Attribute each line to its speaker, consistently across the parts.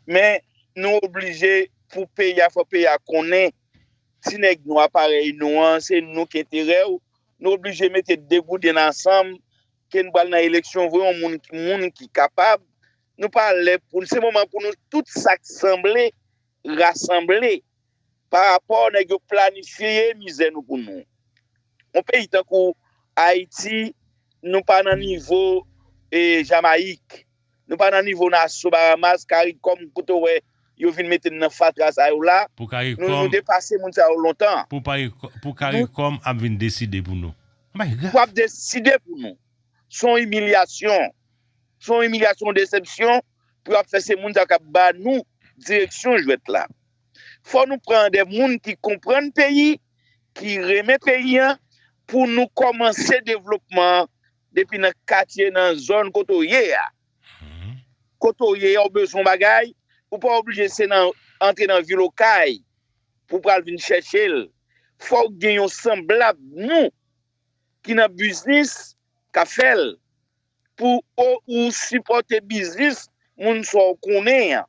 Speaker 1: men nou oblije pou peyi a fò peyi a konnen ti nèg nwa parèy nou an se nou ki enterè yo nou oblije mete degouden n ansanm ke n pral nan eleksyon vwe yon moun moun ki kapab nou pa lè pou se moman pou nou tout sa k sanble rasanble pa rapò nèg yo planifye mizè nou pou nou. Yon peyi tankou Ayiti nou pa nan nivo Jamayik, nou pa nan nivo Naso, Baramas, Karikòm kote w wè yo vin mete n nan fatra sa yo la, nou
Speaker 2: depase moun sa
Speaker 1: yo lontan. Pou
Speaker 2: Karikòm ap vin deside pou nou. Anbay grav! Pou ap deside
Speaker 1: pou nou. S on imilyasyon. S on imilyasyon, desepsyon pou yo ap fè se moun sa yo k ap ba nou direksyon jwèt la. Fò nou pran de moun ki konprann peyi, ki renmen peyi an pou nou kòmanse devlopman an depi nan katye, nan zòn kote w ye a. Kote w ye a w bezwen yon bagay, ou pa oblije se nan antre nan vil Okay pou w pral vin chèche l. Fò w gen yon sanblab nou ki nan biznis k ap fè l pou ou sipòte biznis moun sa w konnen an.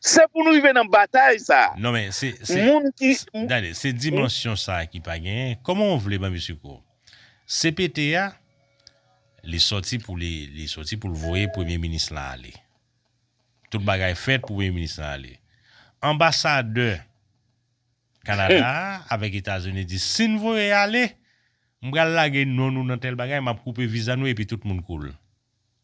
Speaker 1: Se pou nou rive nan batay sa a. Non men se se Moun
Speaker 2: ki Gade se dimansyon sa ki pa genyen Koman ou vle ban misye kou CPT a Li sòti pou li li sòti pou l voye premye minis lan ale Tout bagay fèt pou premye minis lan ale Anbasadè Kanada a avèk Etazini di si n voye ale m pral lage non nou nan tèl bagay m ap koupe viza nou epi tout moun koul.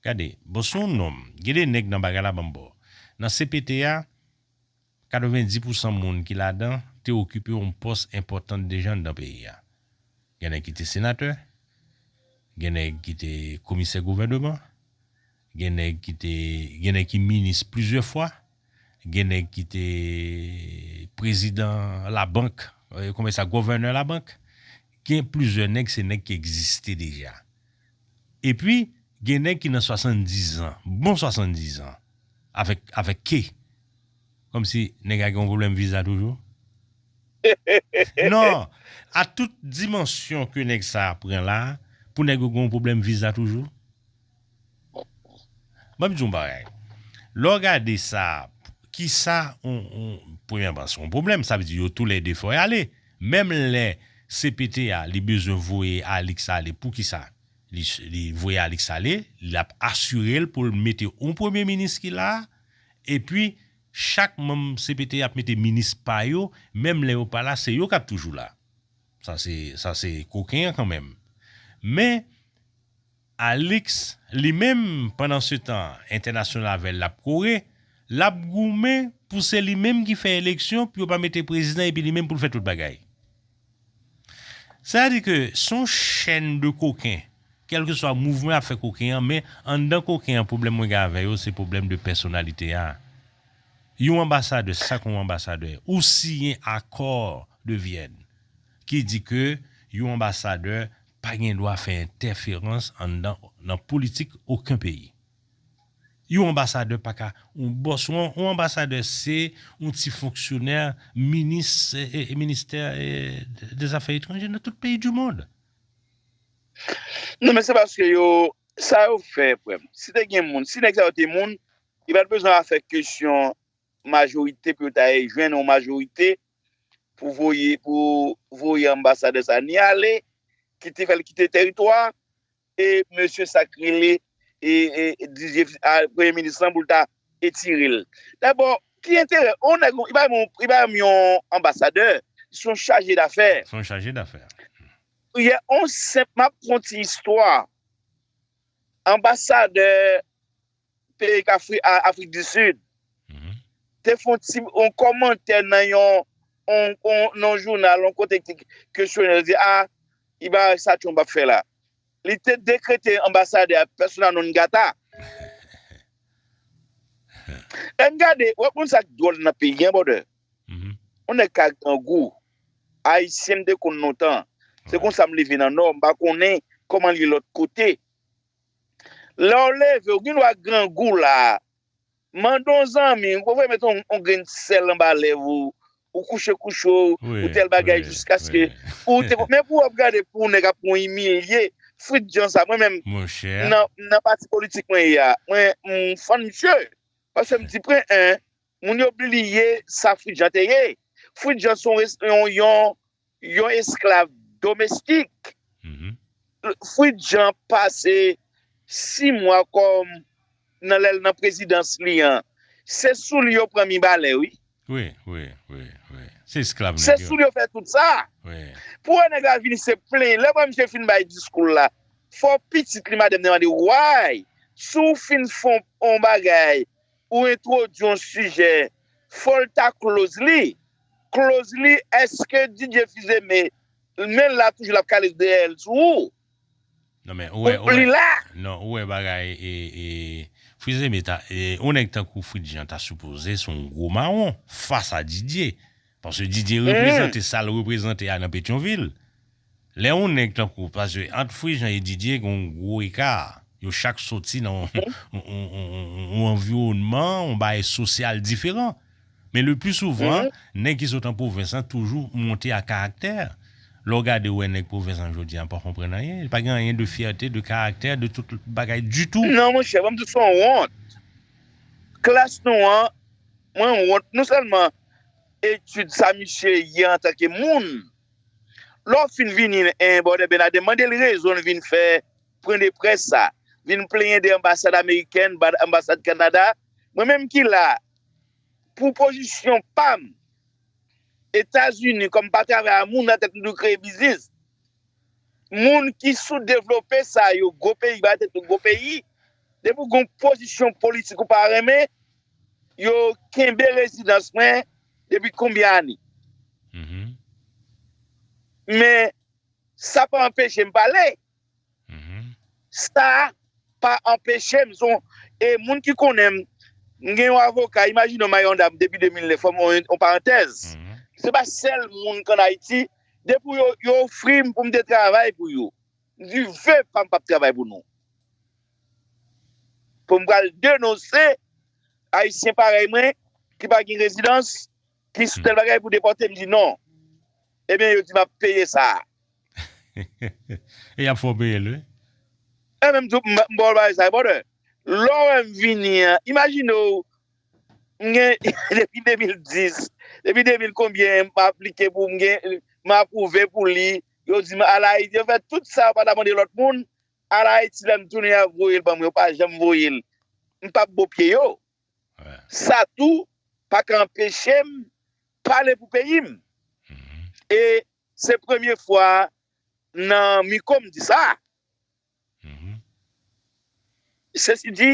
Speaker 2: Gade bon se yon nonm. Gen de nèg nan bagay la banm bo. Nan cpt a 90 pou san moun ki ladan te okipe yon pòs enpòtant deja anndan peyi a. Gen nèg ki te senatè, gen nèg ki te komisè gouvèneman, gen nèg ki te gen nèg ki minis plizyè fwa, Gen nèg ki te prezidan labank, konbyen sa gòvènè labank. Gen plizyè nèg se nèg ki egziste deja. Epi gen nèg ki nan swasanndizan, bon swasanndizan avèk avèk ke kòm si nèg la gen yon pwoblèm viza toujou. Non, a tout dimansyon ke nèg sa a pran la pou nèg yo gen yon pwoblèm viza toujou. Map di yon bagay lè w gade sa kisa premyèman se yon pwoblèm sa vle di yo tou lè 2 fò y ale menm lè cpt a li bezwen voye Alix ale poukisa li voye Alix ale lap asire l pou l mete yon premye minis ki la epi chak manm cpt ap mete minis pa yo menm lè yo pa la se yo kap toujou la sa se koken an kanmenm men. Alix, li menm, pandan se tan, entènasyonave l ap kore, l ap goumen pou se li menm ki fè eleksyon pou yo pa mete prezidan epi li menm pou l fè tout bagay. Sètadi ke se yon chèn de koken, kèlkeswa mouvman y ap fè koken an, men anndan koken an pwoblèm mwen gen avè yo se pwoblèm de pèsonalite a. Yon anbasadè, se sa ke yon anbasadè ye. Ou siyen Accord de Vienne ki di ke yon anbasadè pa gen dwa fè entèferans anndan nan politik oken peyi. Yon anbasadè pa ka yon bòs, yon anbasadè se yon ti fonksyonè minis ministè dezafè etranje nan tout peyi di mond.
Speaker 1: Non men se paske yo, sa yo fè frè m, si te gen moun, si nèg sa yo te moun, yo pa t bezwen a fè kesyon majorite pou yo ta jwenn yon majorite pou voye pou voye anbasadè sa ni ale ki te fèl kite tèritwa e mesye sak rele e dizye premye minis lan pou l ta etirel dabò ki enterè on nèg li bay moun li bay moun yon anbasadè son chaje dafè son chaje dafè yè on senp map fon ti istwa anbasadè peyi kafri a afrik di sid te fon ti yon komantè nan yon yon jounal yon kote ki kesyone li di a i bagay sa trump ap fè la li te dekrete anbasadè a persona non grata en gade wap konn sak dwòl nan peyi an brother yon nèg ka grangou ayisyen m te konn lontan se konsa m leve nan nò m pa konnen koman li lòt kote. Lè w leve, ou gendwa grangou la. Mande yon zanmi, ou bezwen met yon grenn ti sèl anba lèv ou, ou kouche kouche w, ou tèl bagay jiskaske ou te konn. Men pou w ap gade pou nèg ap pran w imilye, frit jan sa. Mwen menm,
Speaker 2: nan pati politik
Speaker 1: mwen ye a, mwen m fann misye. Paske m di pwen 1, moun yo bliye sa Fritjan te ye. Fritjan se yon Yon esklav domestik. Fwid Jan pase 6 mwa kòm nan lèl nan prezidans li an se souli yo pran mibalè wi. Wi wi
Speaker 2: wi wi se esklav nèg yo. Se souli yo fè tout sa.
Speaker 1: Wi. Pou wè
Speaker 2: nèg la vini
Speaker 1: se plenyen lè wè misye fin bay diskoul la fò pitit li madanm li mande why si w fin fon on bagay Ou entwodwi yon sijè fòl ta close li close li eske DJ Fils-Aimé menl la toujou lap kale deyèl sou ou Non men
Speaker 2: ou wè li la. Non ou wè bagay e Fils-Aimé ta yon nèg tankou Fritz Jean ta sipoze se yon gwo mawon fas a Didier paske Didier reprezante sal reprezante a nan Petyonvil. Lè yon nèg tankou paske ant Frejant e Didier gen yon gwo eka, yo chak soti nan yon anviwònman, yon bagay sosyal diferan. Men le pli souvan, nèg ki sot an pwovens lan toujou monte ak karaktè. Lè w gade ou wè nèg pwovens lan jodi a l pa konprann anyen, li pa gen anyen de fyète, de karaktè, de tout bagay ditou. Non monchè, banm di w son
Speaker 1: wont. Klas nou an, mwen wont non sèlman etid sa misye ye antanke moun. Lè w fin vini en bòdè Bernadin mande l rezon l vin fè pwen de près sa, vin plenyen de anbasad amerikèn, anbasad Kanada, mwen menm ki la pou pozisyon pa m Etazini kòm pa travay a moun nan tèt nou kreye biznis moun ki sou devlope sa yo gwo peyi ba tèt yo gwo peyi depi w gen yon pozisyon politik ou pa renmen Yo kenbe rezidans mwen depi konbyen ane. Men, sa pa anpeche m pale. Sa pa anpeche m, son, e moun ki konnen m, m gen yon avoka, imajine w m ak yon dam depi 2009, fè m yon parantèz. Se pa sèl moun k an Ayiti, depi yo ofri m pou m te travay pou yo. Nive pam pap travay pou nou. Pou m pral denonse ayisyen parèy mwen ki pa gen rezidans, ki sou tèl bagay pou depòte m di non. Ebyen yo di m ap peye sa a.
Speaker 2: E y ap fè w peye l wi. E men m
Speaker 1: tou m ba w bagay sa a brother. Lè w wè m vini an, imajine w m gen depi 2010, depi 2000 konbyen m aplike pou m gen, m apwouve pou li, Yo di m al Ayiti, yo fè tout sa yo pa ta mande lòt moun, al Ayiti lè m tounen yo voye l ban mwen, yo pa janm voye l. M pa p bo pye yo. Sa tou pa ka anpeche m pale pou peyi m. E se premye fwa nan miko m di sa. Sesi di,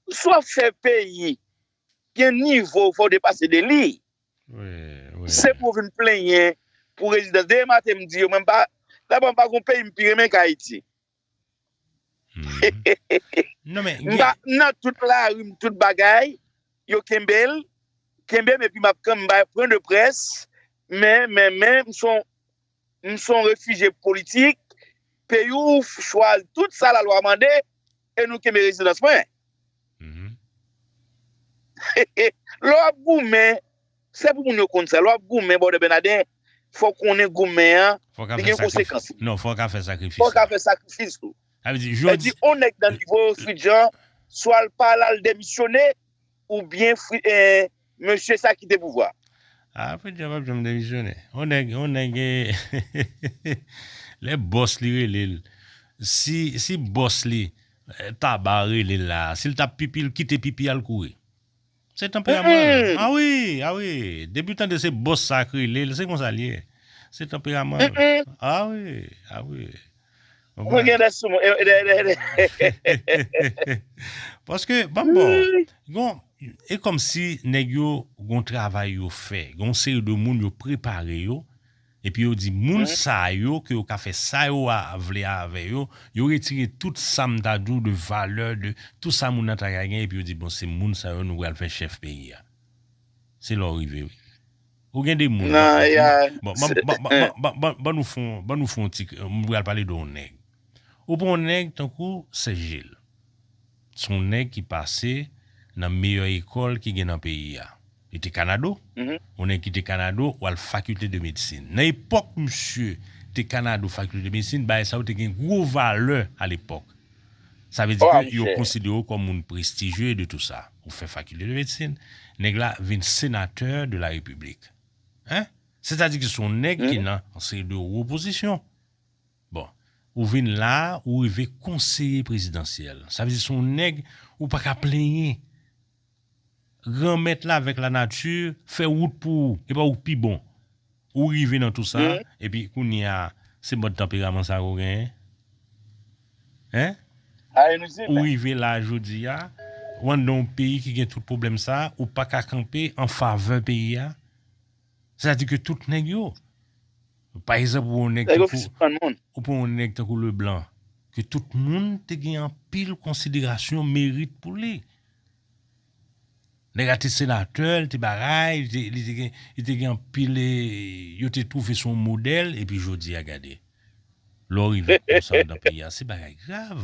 Speaker 1: si w ap fè peyi gen nivo fò w depase de li. Se pou w vin plenyen pou rezidans. Deye maten m di yo mwen pa daba m pa gon peyi m pi renmen k Ayiti.
Speaker 2: M pa nan tout
Speaker 1: lari m tout bagay yo kenbe l kenbe m epi m ap pran de près men men men m son M son refije politik, peyi w chwal tout sa la lwa mande e nou kenbe rezidans mwen. Lè w ap goumen, se pou moun yo konn sa, lè w ap goumen bòdè Bènadè, fò w konnen goumen an, li gen konsekans
Speaker 2: li. Non, fò w ka fè sakrifis. Fò w ka fè sakrifis
Speaker 1: tou. Sa vle di, jodi. Sa vle di,
Speaker 2: on nèg nan nivo
Speaker 1: Fritjan, swa l pa al al demisyone, Ou byen fri ee mesye sa kite pouvwa. Ah preedyò
Speaker 2: pap janm demisyone. On nèg on nèg ee lè bòs li relel si si bòs li taba relel la sil tap pipi l kite pipi al kouri se tanperaman l ah wi ah wi depiw tande se bòs sa k relel se konsa l ye se tanperaman l ah wi ah wi. Mwen gen de sou mwen. Paske, banm bon, gon, e kom si neg yo gon travay yo fe, gon seri de moun yo prepare yo, epi yo di moun sa yo ke yo ka fe sa yo a vle ave yo, yo retire tout sa m ta di w de valè, de tout sa moun nan ta ka gen epi yo di bon se moun sa yo nou pral fe chef peyi a. Se la w rive wi. Ou gen de moun. Nan ya Ban nou fon Ban nou fon ti M pral pale de yon nèg Ou pran yon nèg tankou Sè Jil S on nèg ki pase Nan meyè ekòl ki gen nan peyi a Li te Kanado On nèg ki te Kanado W al fakilte de medsin Nan epòk misye te Kanado fakilte de medsin Bagay sa yo te gen gwo valè alepòk Sa vle di ke yo konsidere w kòm moun prestijye de tou sa. Ou fè fakilte de medsin, nèg la vin senatè de la repiblik. Hein? Sètadi ke se yon nèg ki nan yon seri de wo pozisyon. Bon, ou vin la, ou rive konseye prezidansyèl. Sa vle di se yon nèg ou pa ka plenyen. Granmèt la avèk lanati fè wout pou ou, epa ou k pi bon. Ou rive nan tou sa, epi kounye a se mòd tanperaman sa ou genyen? Hein? Ou rive la a jodi a, ou anndan yon peyi ki gen tout pwoblèm sa, ou paka kanpe an favè peyi a? Sa di ke tout nèg yo, pa egzanp ou wè yon nèg tankou, ou pran yon nèg tankou Leblanc, ke tout moun te gen anpil konsiderasyon, merit pou li. Nèg la te senatè, li te bagay, li te gen anpil, yo te twouve se yon modèl, epi jodi a gade. Lè w rive konsa nan peyi a, se bagay grav.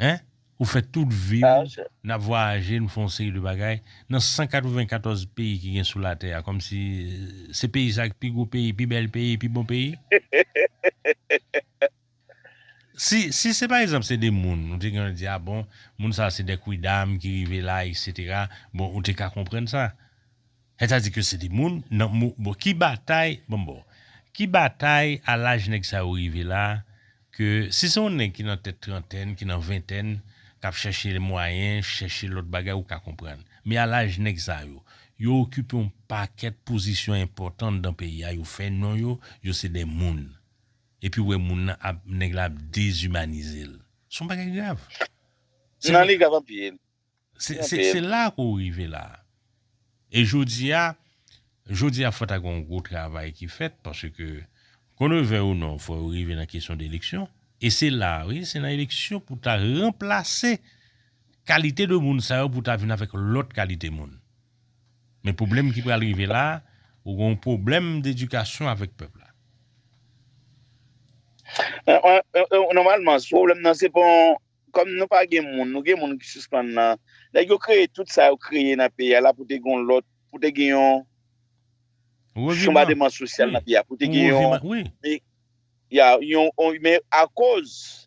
Speaker 2: hein ou fè tout viw nap vwayaje nou fè yon seri de bagay nan 194 peyi ki gen sou latè a kòmsi se peyi sa ki pi gwo peyi pi bèl peyi pi bon peyi si si se pa egzanp se de moun nou te gentan di a bon moun sa se de kwidam ki rive la eksetera bon ou te ka konprann sa. Nèg sa di ke se de moun nan mo bon ki batay banm baw ki batay a laj nèg sa yo rive la ke si se yon nèg ki nan tèt trantèn ki nan ventèn kap chèche mwayen chèche lòt bagay ou ka konprann men a laj nèg sa yo yo okipe yon pakèt pozisyon enpòtan anndan peyi a yo fè non yo yo se de moun epi ou wè moun nan ap nèg la ap dezimanizel son bagay grav se nan li
Speaker 1: grav anpil Se
Speaker 2: la ke w rive la. E jodi a, jodi a fò ta gen yon gwo travay ki fèt paske kon yo vèy ou non fò yo rive nan kesyon de eleksyon e se la, wi, se nan eleksyon pou ta ranplase kalite de moun sa yo pou ta vin avèk lòt kalite moun. Men pwoblèm ki pral rive la, ou gen yon pwoblèm dedikasyon avèk pèp la.
Speaker 1: Nòmalman, pwoblèm nan se pa yon. Kòm nou pa gen moun, nou gen moun ki sispann nan. Nèg yo kreye tout sa yo kreye nan peyi a la pou te gen yon lòt, pou te gen yon chonbademan sosyal nan peyi a, pou te gen yon, ya, yon, men akoz.